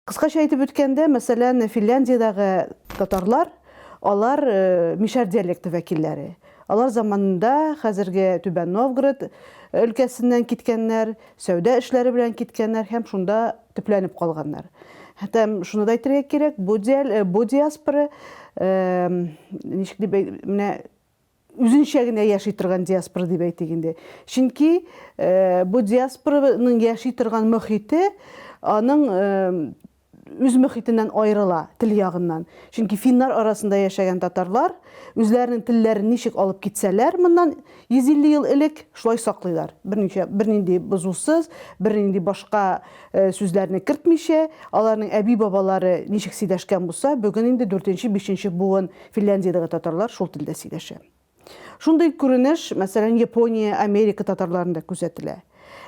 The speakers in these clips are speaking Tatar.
Кыскача әйтеп үткәндә, мәсәлән, Финляндиядәге татарлар, алар э, мишәр диалекты вәкилләре. Алар заманында хәзерге Түбән Новгород өлкәсеннән киткәннәр, сәүдә эшләре белән киткәннәр һәм шунда төпләнеп калганнар. Хәтәм шуны да әйтергә кирәк, бу диал, э, бу диаспора э, ничек дип менә үзенчә генә яши торган диаспора дип әйтик инде. Чөнки э, бу диаспораның яши торган мөхите аның э, үз мөхитеннән аерыла тел ягыннан. Чөнки финнар арасында яшәгән татарлар үзләренең телләрен ничек алып китсәләр моннан 150 ел элек шулай саклыйлар, берничә, бернинди бозусыз, бернинди башка сүзләрне кертмичә, аларның әби-бабалары ничек сөйләшкән булса, бүген инде дүртенче, бишенче буын Финляндиядәге татарлар шул телдә сөйләшә. Шундый күренеш, мәсәлән, Япония, Америка татарларында күзәтелә.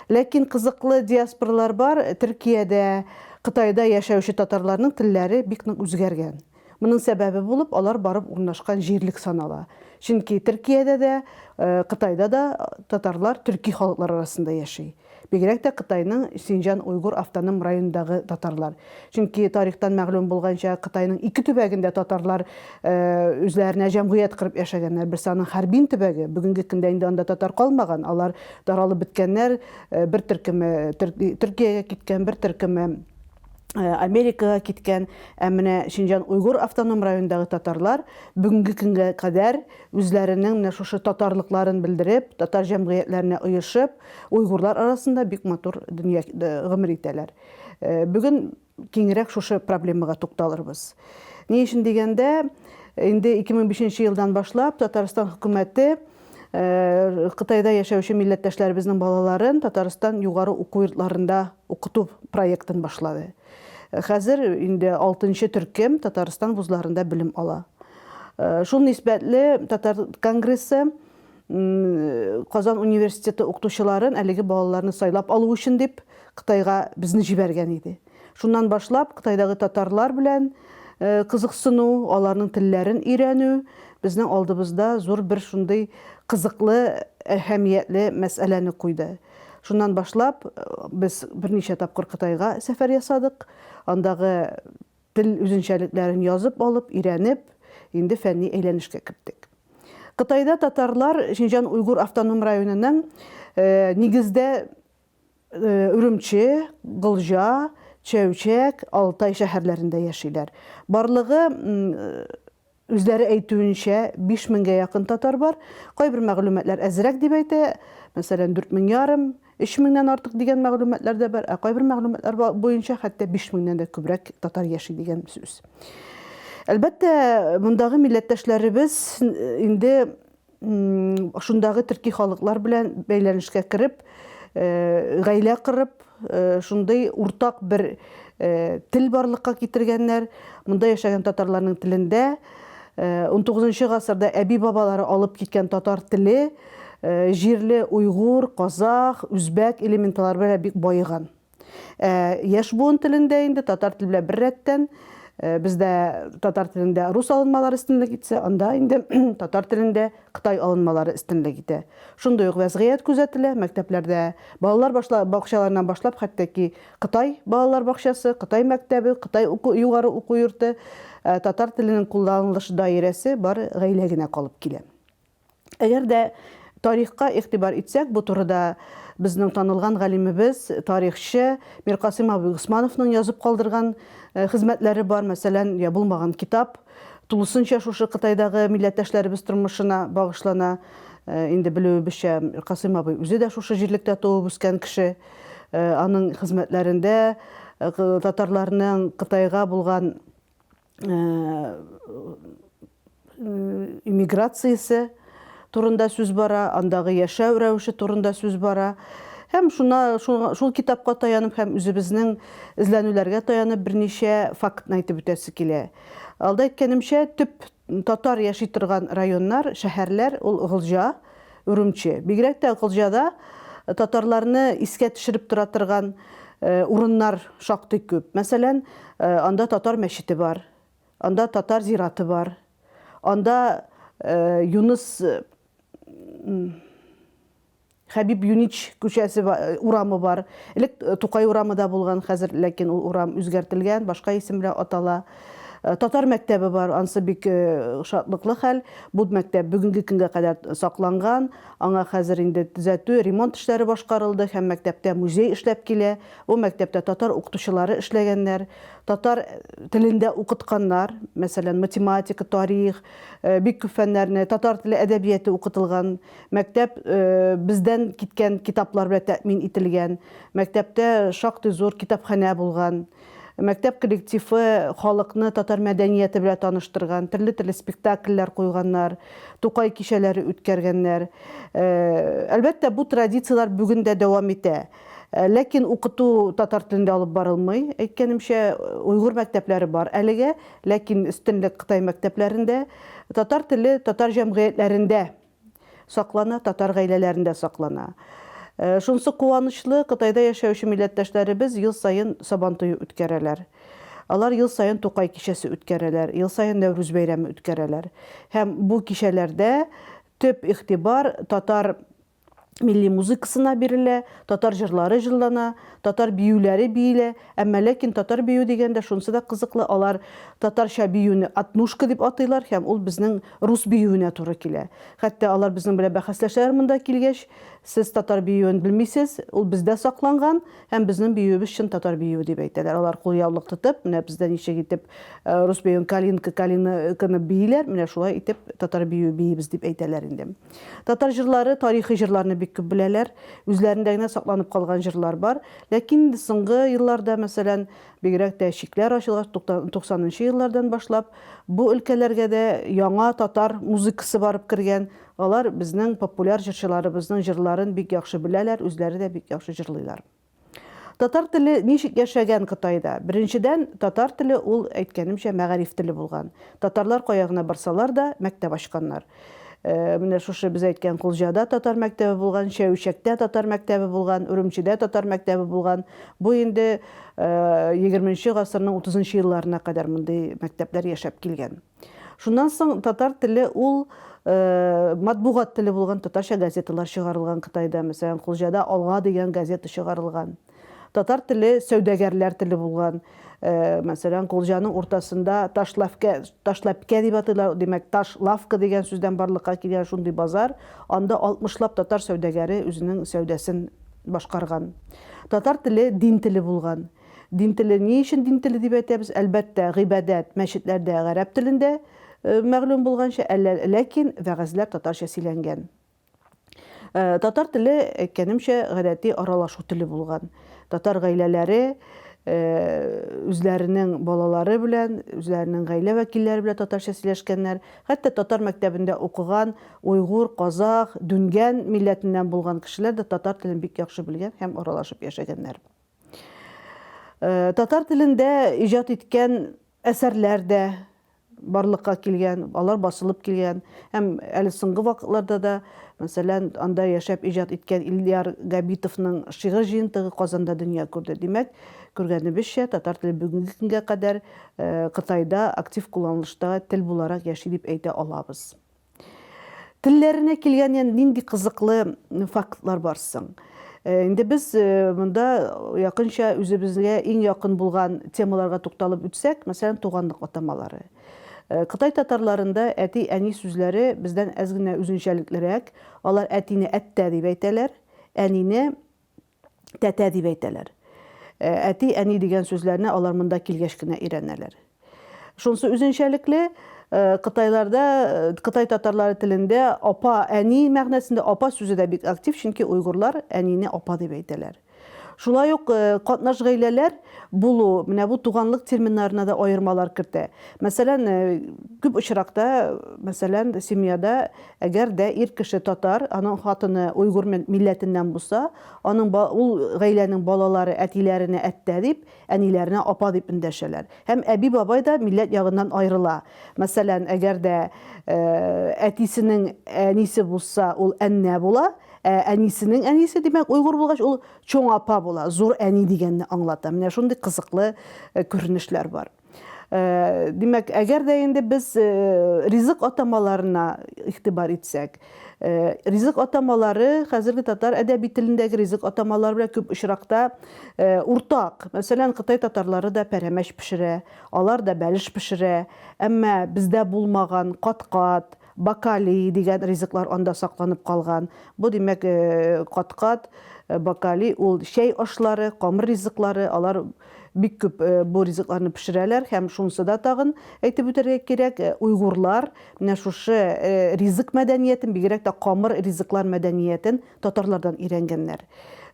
Ләкин кызыклы диаспоралар бар, Төркиядә, Кытайда яшәүче татарларның телләре бик нык үзгәргән. Моның сәбәбе булып алар барып урнашкан җирлек санала. Чөнки Төркиядә дә, Кытайда да татарлар төрки халыклар арасында яши. Бигрәк тә Кытайның Синҗан уйгур автоном районындагы татарлар. Чөнки тарихтан мәгълүм булганча, Кытайның ике төбәгендә татарлар үзләренә җәмгыять корып яшәгәннәр. Берсе аның Харбин төбәге, бүгенге көндә инде анда татар калмаган, алар таралып беткәннәр, бер төркеме Төркиягә киткән, бер төркеме Э, Америкага киткән, ә менә Шинҗан Уйгур автоном районындагы татарлар бүгенге көнгә кадәр үзләренең менә шушы татарлыкларын белдереп, татар җәмгыятьләренә оешып, уйгурлар арасында бик матур дөнья э, гомер итәләр. Э, бүген киңрәк шушы проблемага тукталырбыз. Ни өчен дигәндә, инде 2005 елдан башлап Татарстан хөкүмәте Э, Кытайда яшәүче милләттәшләребезнең балаларын Татарстан югары уку йортларында укыту проектын башлады. Хәзер инде алтынчы төркем Татарстан вузларында белем ала. Шул нисбәтле Татар конгрессы Казан университеты укытучыларын әлеге балаларны сайлап алу өчен дип Кытайга безне җибәргән иде. Шуннан башлап Кытайдагы татарлар белән кызыксыну, аларның телләрен өйрәнү безнең алдыбызда зур бер шундый кызыклы, әһәмиятле мәсьәләне куйды. Шуннан башлап, без берничә тапкыр Кытайга сәфәр ясадык. Андагы тел үзенчәлекләрен язып алып, өйрәнеп, инде фәнни әйләнешкә керттек. Кытайда татарлар Шинҗан-Уйгур автоном районының нигездә Өремче, Голҗа, Чәүчәк, Алтай шәһәрләрендә яшиләр. Барлыгы Үзләре әйтүенчә, биш меңгә якын татар бар. Кайбер мәгълүматлар әзрәк дип әйтә, мәсәлән, дүрт мең ярым, өч меңнән артык дигән мәгълүматлар да бар, ә кайбер мәгълүматлар буенча хәтта биш меңнән дә күбрәк татар яши дигән сүз. Әлбәттә, мондагы милләттәшләребез инде шундагы төрки халыклар белән бәйләнешкә кереп, э, гаилә кырып, э, шундый уртак бер э, тел барлыкка китергәннәр. Монда яшәгән татарларның телендә 19 гасырда әби-бабалары алып киткән татар теле җирле уйгур, казах, үзбәк элементлары белән бик баеган. Ә, яшь буын телендә инде татар теле белән бер рәттән э, бездә татар телендә рус алынмалары өстенлек итсә, анда инде татар телендә Кытай алынмалары өстенлек итә. Шундый ук вәзгыять күзәтелә, мәктәпләрдә балалар башла, бакчаларыннан башлап, хәтта ки Кытай балалар бакчасы, Кытай мәктәбе, Кытай уку, югары уку йорты, э, татар теленең кулланылыш даирәсе бар гаилә генә калып килә. Әгәр дә тарихка игътибар итсәк, бу турыда безнең танылган галимебез, тарихчы Миркасыйм абый Госмановның язып калдырган хезмәтләре бар, мәсәлән, Я булмаган китап, тулысынча шушы Кытайдагы милләттәшләребез тормышына багышлана. Инде белүебезчә, Миркасыйм абый үзе дә шушы җирлектә туып үскән кеше. Аның хезмәтләрендә татарларның Кытайга булган иммиграциясе турында сүз бара, андагы яшәү рәвеше турында сүз бара. Һәм шуна шул, шул китапка таянып һәм үзебезнең эзләнүләргә таянып берничә фактны әйтеп үтәсе килә. Алда әйткәнемчә, төп татар яши торган районнар, шәһәрләр ул Гылҗа, Үрүмче. Бигрәк тә Гылҗада татарларны искә төшереп тора торган урыннар шактый күп. Мәсәлән, анда татар мәчете бар, анда татар зираты бар, анда Юныс Хәбиб Юнич күчәсе урамы бар. Элек Тукай урамы да булган, хәзер ләкин ул урам үзгәртелгән, башка исем белән атала. Татар мәктәбе бар, ансы бик шатлыклы хәл. Бу мәктәп бүгенге көнгә кадәр сакланган. Аңа хәзер инде төзәтү, ремонт эшләре башкарылды һәм мәктәптә музей эшләп килә. Бу мәктәптә татар укытучылары эшләгәннәр, татар телендә укытканнар. Мәсәлән, математика, тарих, бик күп фәннәрне, татар теле, әдәбияте укытылган. Мәктәп бездән киткән китаплар белән тәэмин ителгән. Мәктәптә шактый зур китапханә булган. Мәктәп коллективы халыкны татар мәдәнияте белән таныштырган, төрле-төрле спектакльләр куйганнар, Тукай кичәләре үткәргәннәр. Әлбәттә, бу традицияләр бүген дә дәвам итә. Ләкин укыту татар телендә алып барылмый, әйткәнемчә, уйгур мәктәпләре бар әлегә, ләкин өстенлек Кытай мәктәпләрендә. Татар теле татар җәмгыятьләрендә саклана, татар гаиләләрендә саклана. Шунысы куанычлы, Кытайда яшәүче милләттәшләребез ел саен Сабантуе үткәрәләр. Алар ел саен Тукай кичәсе үткәрәләр, ел саен Нәүрүз бәйрәме үткәрәләр. Һәм бу кичәләрдә төп игътибар татар милли музыкасына бирелә, татар җырлары җырлана, татар биюләре биелә. Әмма ләкин татар бию дигәндә шунысы да кызыклы, алар татарча биюне отнушка дип атыйлар һәм ул безнең рус биюенә туры килә. Хәтта алар безнең белән бәхәсләшәләр монда килгәч, сез татар биюен белмисез, ул бездә сакланган һәм безнең биюебез чын татар биюе дип әйтәләр. Алар кулъяулык тотып, менә бездә ничек итеп рус биюен калинка, калинканы бииләр, менә шулай итеп татар биюе биибез дип әйтәләр инде. Татар җырлары тарихи җырларны бик күп беләләр, үзләрендә генә сакланып калган җырлар бар. Ләкин инде соңгы елларда, мәсәлән, бигрәк тә чикләр ачылгач, 90 нчы еллардан башлап, бу өлкәләргә дә яңа татар музыкасы барып кергән, алар безнең популяр җырчыларыбызның җырларын бик яхшы беләләр, үзләре дә бик яхшы җырлыйлар. Татар теле ничек яшәгән Кытайда? Беренчедән, татар теле ул, әйткәнемчә, мәгариф теле булган. Татарлар кая гына барсалар да, мәктәп ачканнар. Менә шушы без әйткән Кулҗада татар мәктәбе булган, Чәүчәктә татар мәктәбе булган, Үрүмчедә татар мәктәбе булган. Бу инде егерменче гасырның утызынчы елларына кадәр мондый мәктәпләр яшәп килгән. Шуннан соң татар теле ул матбугат теле булган татарча газеталар чыгарылган Кытайда, мәсәлән, Кулҗада Алга дигән газета чыгарылган. Татар теле сәүдәгәрләр теле булган. Э, мәсәлән, Кулҗаның уртасында Ташлавка, Ташлапкә дип атыйлар, димәк, Таш лавка дигән сүздән барлыкка килгән шундый базар. Анда 60 лап татар сәүдәгәре үзенең сәүдәсен башкарган. Татар теле дин теле булган. Дин теле, ни өчен дин теле дип әйтәбез? Әлбәттә, гыйбадәт, мәчетләрдә гарәп телендә, мәгълүм булганча, әллә, ләкин вәгазьләр татарча сөйләнгән. Татар теле, әйткәнемчә, гадәти аралашу теле булган. Татар гаиләләре үзләренең балалары белән, үзләренең гаилә вәкилләре белән татарча сөйләшкәннәр. Хәтта татар мәктәбендә укыган уйгур, казах, дүнгән милләтеннән булган кешеләр дә татар телен бик яхшы белгән һәм аралашып яшәгәннәр. Э, татар телендә иҗат иткән әсәрләр дә барлыкка килгән, алар басылып килгән. Һәм әле соңгы вакытларда да, мәсәлән, анда яшәп иҗат иткән Ильяр Габитовның шигырь җыентыгы Казанда дөнья күрде. Димәк, күргәнебезчә, татар теле бүгенге көнгә кадәр э, Кытайда актив кулланылышта тел буларак яши дип әйтә алабыз. Телләренә килгән ян нинди кызыклы фактлар бар соң? Э, инде без э, монда якынча үзебезгә иң якын булган темаларга тукталып үтсәк, мәсәлән, туганлык атамалары. Э, Кытай татарларында әти-әни сүзләре бездән әз генә үзенчәлеклерәк. Алар әтине әттә дип әйтәләр, әнине тәтә дип әйтәләр. Әти, әни дигән сүзләрне алар монда килгәч кенә өйрәнәләр. Шунсы үзенчәлекле, Кытайларда, кытай татарлары телендә апа, әни мәгънәсендә апа сүзе дә бик актив, чөнки уйгурлар әнине апа дип әйтәләр. Шулай ук катнаш гаиләләр булу, менә бу туганлык терминнарына да аермалар кертә. Мәсәлән, күп очракта, мәсәлән, семьяда Әгәр дә ир кеше татар, аның хатыны уйгур милләтеннән булса, аның ба, ул гаиләнең балалары әтиләренә әттә дип, әниләренә апа дип эндәшәләр. Һәм әби-бабай да милләт ягыннан аерыла. Мәсәлән, әгәр дә әтисенең әнисе булса, ул әннә була, ә әнисенең әнисе, димәк, уйгур булгач, ул чоң апа була, зур әни дигәнне аңлата. Менә шундый кызыклы күренешләр бар. Э, димәк әгәр дә инде без э, ризык атамаларына игътибар итсәк э, ризык атамалары хәзерге татар әдәби телендәге ризык атамалары белән күп очракта уртак мәсәлән кытай татарлары да пәрәмәч пешерә алар да бәлеш пешерә әмма бездә булмаган кат-кат Бакалий дигән ризыклар анда сакланып калган. Бу, димәк, каткат, бакалий, ул чәй ашлары, камыр ризыклары, алар бик күп бу ризыкларны пешерәләр һәм шунысы да тагын әйтеп үтәргә кирәк, уйгурлар менә шушы ризык мәдәниятен, бигрәк тә камыр ризыклар мәдәниятен Татарлардан өйрәнгәннәр.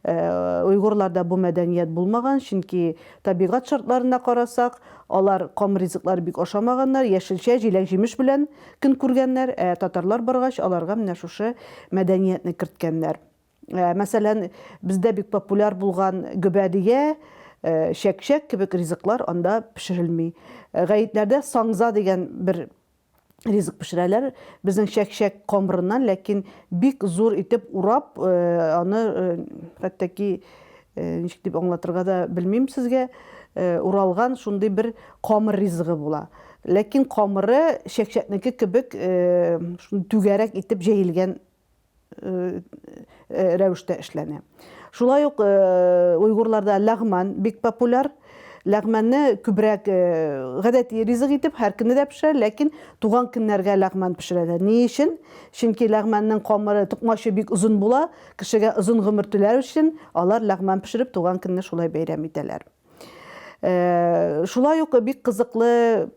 Уйгурларда бу мәдәният булмаган, чөнки табигать шартларына карасак, алар ком ризыклар бик ашамаганнар, яшелчә, җиләк-җимеш белән көн күргәннәр, ә татарлар баргач, аларга менә шушы мәдәниятне керткәннәр. Мәсәлән, бездә бик популяр булган гөбәдия, чәкчәк кебек ризыклар анда пешерелми. Гаетләрдә саңза дигән бер ризык пешерәләр. Безнең чәкчәк камырыннан, ләкин бик зур итеп урап, э, аны э, хәтта ки э, ничек дип аңлатырга да белмим сезгә, уралган шундый бер камыр ризыгы була. Ләкин камыры чәкчәкнеке кебек шундый түгәрәк итеп җәелгән рәвештә эшләнә. Шулай ук уйгурларда ләгман бик популяр. Ләгманны күбрәк гадәти ризык итеп һәркемне дә пешерә, ләкин туган көннәргә ләгман пешерәләр. Ни өчен? Чөнки ләгманның камыры, токмачы бик озын була, кешегә озын гомер теләр өчен алар ләгман пешереп туган көнне шулай бәйрәм итәләр. Шулай ук бик кызыклы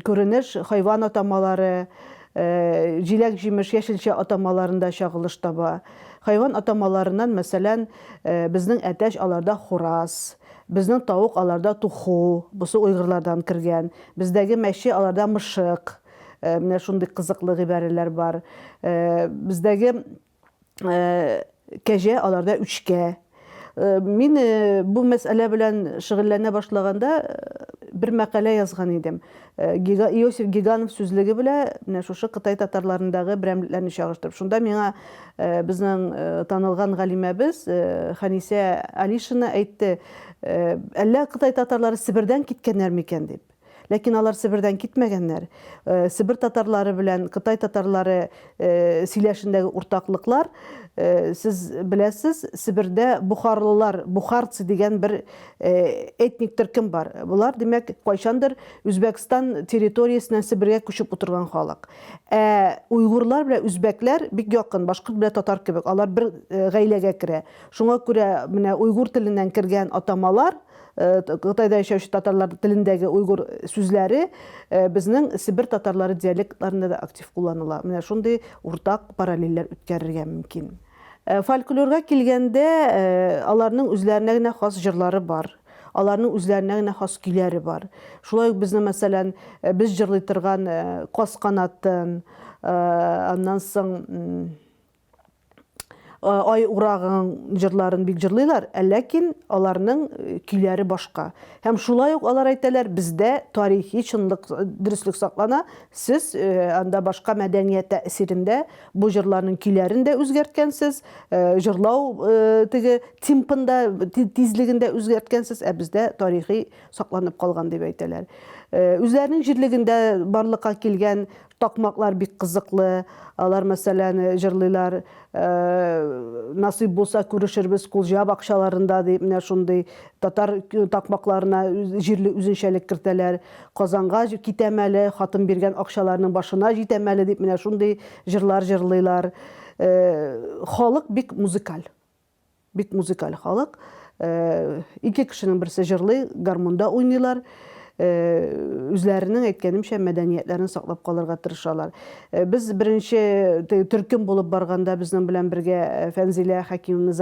Күренеш хайван атамалары, җиләк-җимеш, яшелчә атамаларында чагылыш таба. Хайван атамаларыннан, мәсәлән, безнең әтәч аларда хураз, безнең тавык аларда туху, бусы уйгырлардан кергән, бездәге мәче аларда мышык, менә шундый кызыклы гыйбарәләр бар. Бездәге кәҗә, аларда үчкә. Мин бу мәсьәлә белән шөгыльләнә башлаганда бер мәкалә язган идем. Иосиф Гиганов сүзлеге белә менә шушы Кытай татарларындагы берәмлекләрне чагыштырып. Шунда миңа безнең танылган галимәбез Ханисә Алишина әйтте, әллә Кытай татарлары Себердән киткәннәр микән дип. Ләкин алар Себердән китмәгәннәр. Себер татарлары белән Кытай татарлары сөйләшендәге уртаклыклар, сез беләсез, Себердә бухарлылар, бухарцы дигән бер этник төркем бар. Болар, димәк, кайчандыр Үзбәкстан территориясеннән Себергә күчеп утырган халык. Ә уйгурлар белән үзбәкләр бик якын, башкорт белән татар кебек, алар бер гаиләгә керә. Шуңа күрә менә уйгур теленнән кергән атамалар, Кытайда яшәүче татарлар телендәге уйгур сүзләре безнең Себер татарлары диалектларында да актив кулланыла. Менә шундый уртак параллельләр үткәрергә мөмкин. Фольклорга килгәндә, аларның үзләренә генә хас җырлары бар. Аларның үзләренә генә хас көйләре бар. Шулай ук безнең, мәсәлән, без җырлый торган Каз канатын, аннан соң ай урагың җырларын бик җырлыйлар, ә ләкин аларның э, көйләре башка. Һәм шулай ук алар әйтәләр, бездә тарихи чынлык, э, дөреслек саклана. Сез э, анда башка мәдәният тәэсирендә бу җырларның көйләрен дә үзгәрткәнсез, җырлау теге темпында, тизлегендә үзгәрткәнсез, ә бездә тарихи сакланып калган дип әйтәләр. Үзләренең җирлегендә барлыкка килгән Такмаклар бик кызыклы, алар мәсәлән җырлыйлар, насыйп булса күрешербез Кулҗа бакчаларында дип, менә шундый татар такмакларына җирле үзенчәлек кертәләр. Казанга китәм әле, хатын биргән акчаларның башына җитәм әле дип, менә шундый җырлар җырлыйлар. Халык бик музыкаль. Бик музыкаль халык. Ике кешенең берсе җырлый, гармунда уйныйлар. Үзләренең, әйткәнемчә, мәдәниятләрен саклап калырга тырышалар. Без беренче төркем булып барганда безнең белән бергә Фәнзилә Хәкимовна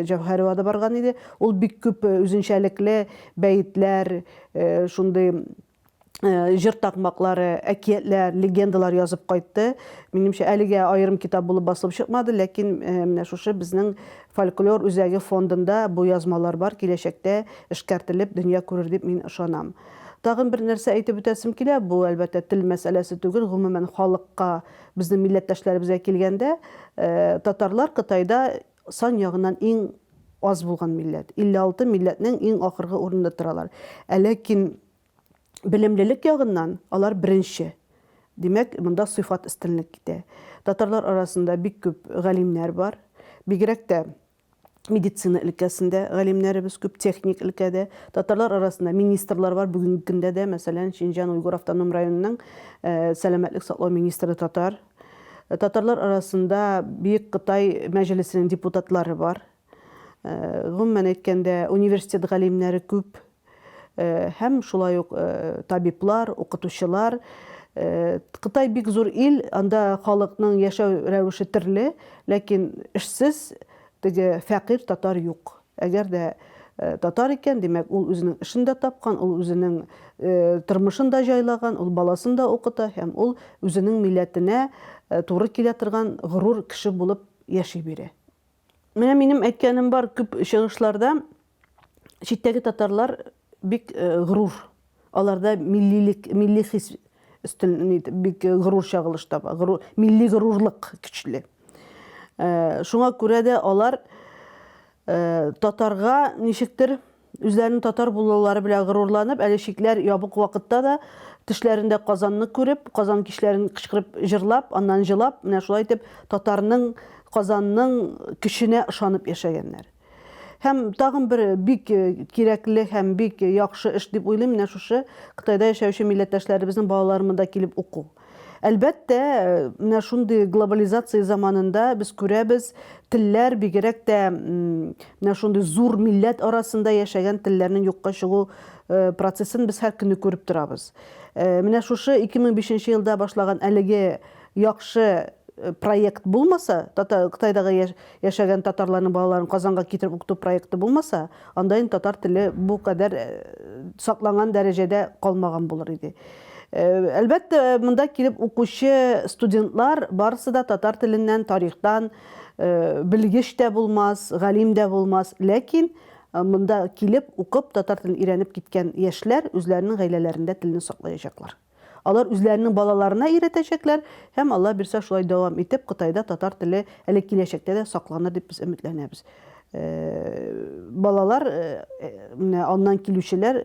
Җәүһәрова да барган иде. Ул бик күп үзенчәлекле бәетләр, шундый җыр такмаклары, әкиятләр, легендалар язып кайтты. Минемчә, әлегә аерым китап булып басылып чыкмады, ләкин менә шушы безнең фольклор үзәге фондында бу язмалар бар, киләчәктә эшкәртелеп дөнья күрер дип мин ышанам. Тагын бер нәрсә әйтеп үтәсем килә, бу, әлбәттә, тел мәсьәләсе түгел, гомумән халыкка, безнең милләттәшләребезгә килгәндә, татарлар Кытайда Сан ягыннан иң аз булган милләт. 56 милләтнең иң ахыргы урында торалар. Ә ләкин белемлелек ягыннан алар беренче. Димәк, монда сыйфат өстенлек итә. Татарлар арасында бик күп галимнәр бар. Бигрәк тә медицина өлкәсендә галимнәребез күп, техник өлкәдә. Татарлар арасында министрлар бар, бүгенге көндә дә, мәсәлән, Шинҗан-Уйгур автоном районының сәламәтлек саклау министры татар. Татарлар арасында Бөек Кытай мәҗлесенең депутатлары бар. Гомумән әйткәндә, университет галимнәре күп һәм шулай ук табиблар, укытучылар. Кытай бик зур ил, анда халыкның яшәү рәвеше төрле, ләкин эшсез, теге фәкыйрь татар юк. Әгәр дә татар икән, димәк, ул үзенең эшен дә тапкан, ул үзенең тормышын да җайлаган, ул баласын да укыта һәм ул үзенең милләтенә туры килә торган горур кеше булып яши бирә. Менә минем әйткәнем бар, күп чыгышларда читтәге татарлар бик горур. Аларда миллилек, милли хис өстен бик горур чагылыш таба. Горур, милли горурлык көчле. Э, шуңа күрә дә алар э, татарга ничектер үзләренең татар булулары белән горурланып, әле шикләр ябык вакытта да төшләрендә Казанны күреп, Казан кичләрен кычкырып, җырлап, аннан җылап, менә шулай итеп татарның, Казанның көченә ышанып яшәгәннәр. Һәм тагын бер бик э, кирәкле һәм бик яхшы эш дип уйлыйм, менә шушы Кытайда яшәүче милләттәшләребезнең балалары монда килеп уку. Әлбәттә, э, менә шундый глобализация заманында без күрәбез, телләр бигерәк тә менә шундый зур милләт арасында яшәгән телләрнең юкка чыгу э, процессын без һәр көнне күреп торабыз. Э, менә шушы 2005 елда башлаган әлеге Яхшы проект булмаса, татар Кытайдагы яшәгән татарларның балаларын Казанга китереп укыту проекты булмаса, анда инде татар теле бу кадәр сакланган дәрәҗәдә калмаган булыр иде. Әлбәттә, монда килеп укучы студентлар барысы да татар теленнән, тарихтан белгеч тә булмас, галим дә булмас, ләкин монда килеп укып татар телен өйрәнеп киткән яшьләр үзләренең гаиләләрендә телне саклаячаклар. Алар үзләренең балаларына өйрәтәчәкләр һәм Алла бирсә шулай дәвам итеп Кытайда татар теле әле киләчәктә дә сакланыр дип без өметләнәбез. Э, балалар э, э, менә аннан килүчеләр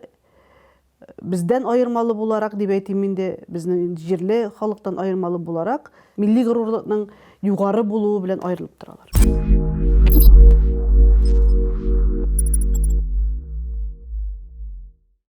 бездән аермалы буларак дип әйтим инде, безнең җирле халыктан аермалы буларак милли горурлыкның югары булуы белән аерылып торалар.